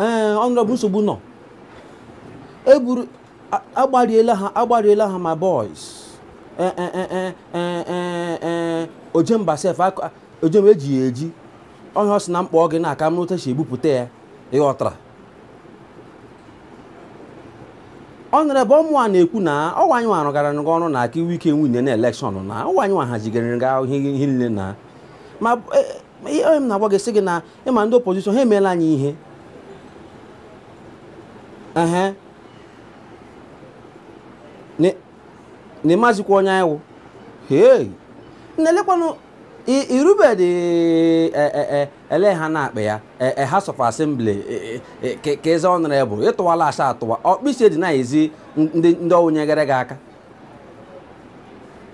ee eh, Honourable nsogbu nọ eburu agbariela ha agbariela ha ma boys eh, eh, ojemba sef ojemba eji ya eji onye ọ sị na m kpọọ gị na ka mara otu a si ebupụta ya ịghọtara Honourable ụmụ a na-ekwu na ọ wụ anyị nwa gara gị ọrụ na ka i nwee ike winie na election na ọ wụ anyị nwa hazigara gị ihe niile na ma Ma ihe onye m na-agwa gị sị gị na ịma ndị opposition ha emeela anyị ihe ehe Ni- na ịmazikwa onye anyị wụ hei na-elekwanụ i- irubedị e- e- e- ele ha na-akpọ ya e- e- House of Assembly e- e- e- ka ka ị zaa Honourable ịtụwala asa atụwa ọkpịsị dị na-ezi ndị ndị ọ wụ nyegara gị aka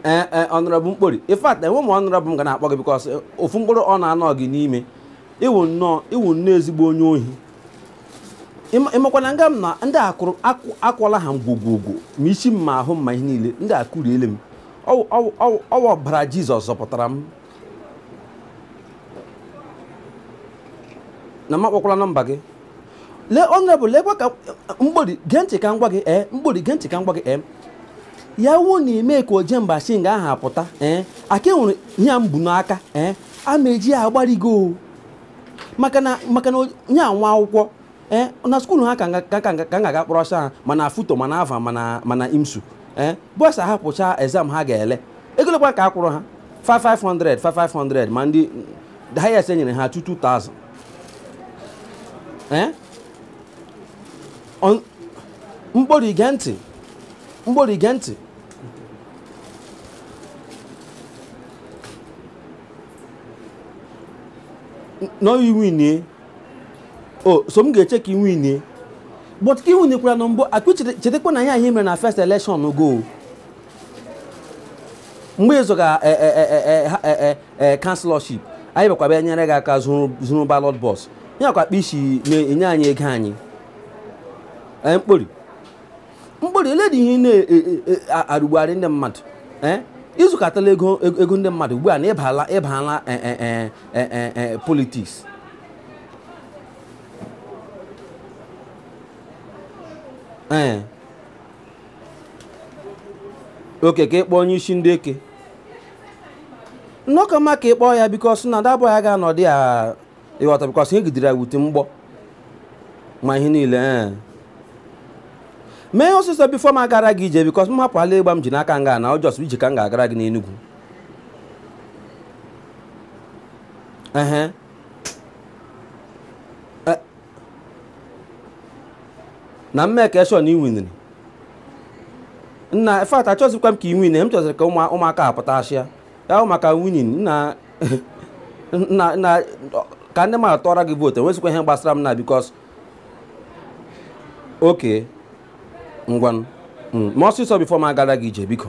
ee ee Honourable mkpori in fact enwe m Honourable m ga na-akpọ gị because ofu mkpụrụ ọ na-anọ gị n'ime ị wụ nnọọ ị wụ nnọọ ezigbo onye ohi Ịma- ịmakwana nga m na ndị a kụrụ akụ- akwọla ha ngwogwogwo ma isi m ma ahụ m ma ihe niile ndị a kụriele m Ọwụ- ọwụ- ọwụ- ọ wụ ọbara Jizọs zọpụtara m na m akpọkwala nọmba gị lee Honourable lekwa ka mgbori gee ntị ka m gwa gị ee mgbori gee ntị ka m gwa gị ee ya wuo na ime ka ojemba shi nga aha apụta ee ka e were ihe a m bu n'aka ee a m eji ya agbari gị o maka na maka na nye nwa akwụkwọ ee na skuulu ha ka ka ga-aga kpọrọ ọsọ ha ma na FUTO ma na Alvan ma na ma na IMSU ee bọsa ha pụcha exam ha ga-ele ego ole kwa ka a kwụrụ ha 500 500 ma ndị highest enyere ha 2000 Eh? On- mkpori ige ntị mkpori ige ntị N- nọ iwinie o so m ga-eche ka iwinie but ka iwinikwara na mbụ akụ chetakwa na ihe anyị mere na first election gị o mgbe ị zọga councillorship anyị bịakwa bịa nyere gị aka zuru ballot box ya kwa akpa isi na-enye anyị ego anyị ee mkpori mkpori ole dị ihe ị na-arụgbugharị ndị mmadụ ee i zukọtala ego ego ndị mmadụ ugbu a na ịbala ịbala politics ee okay ka ị kpọọ onye isi ndị eke na ọ ka mma ka ị kpọọ ya because na ndị abụọ ya ga-anọdị ya ị ghọta because ihe gidere ya wute mgbọ ma ihe niile ee mee ihe ọsịsọ before m agara gị ije because m hapụ ala ịgba m ji n'aka nga na ọ just ije ka m ga-agara gị n'Enugwu ehe na m make sure na ị winiri in fact achọzikwa m ka ị win m chọziri ka ụmụ- ụmụaka a pụta asịa ya hụ maka winning nna nna nna ka ndị mmadụ tụọra gị vote enwezikwa ihe gbasara m na because okay ngwanụ Mm, mee ọsịsọ before m agara gị ije biko